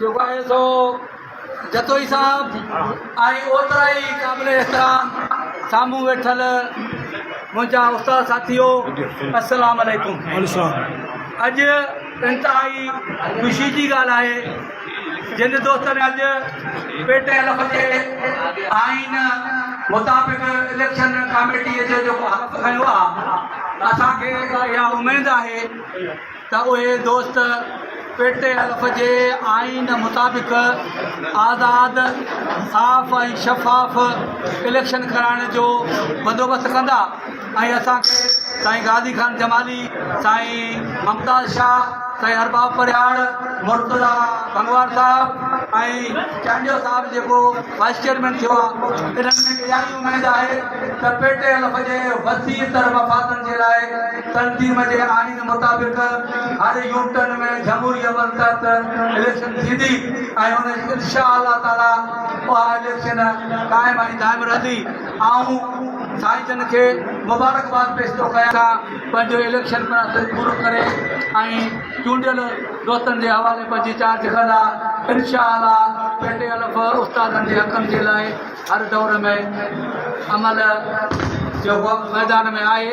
جيڪو آهي سو جتوئي صاحب ۽ اوترا ئي قابل احترام سامهون ويٺل منهنجا استاد ساٿيو السلام عليڪم اڄ انتهائي خوشي جي ڳالهه آهي جن دوستن اڄ پي ٽي ايل جي آئين مطابق اليڪشن ڪاميٽيء جو جيڪو حق کنيو آهي اسان کي اها اميد آهي ته اهي دوست پيٽي الف جي آئين مطابق آزاد، صاف ۽ شفاف اليڪشن ڪرائڻ جو بندوبست ڪندا ۽ اسان کي سائين غازي خان جمالي، سائين ممتاز شاهه، سائين ارباب پرهياڙ، مرتضيٰ ڀنگوار صاحب ۽ چانڊيو صاحب جيڪو وائيس چيئرمين ٿيو آهي انهن ۾ اها ئي اميد آهي ته پيٽي الف جي وسيع تر مفادن جي لاء تنظيم جي آئين مطابق هر يو ٽرن ۾ جمهوري عمل تحت اليڪشن ٿيندي ۽ ان ان شاء الله تعالي اها اليڪشن قائم ۽ دائم رهندي آئون سائين جن کي مبارڪباد پيش ٿو ڪيان سان پنهنجو اليڪشن پڻ سڄ پورو ڪري ۽ چونڊيل دوستن جي حوالي پنهنجي چارج ڪندا ان شاء الله پيٽي الف استادن جي حقن جي لاء هر دور ۾ عمل جو وقت ميدان ۾ آهي.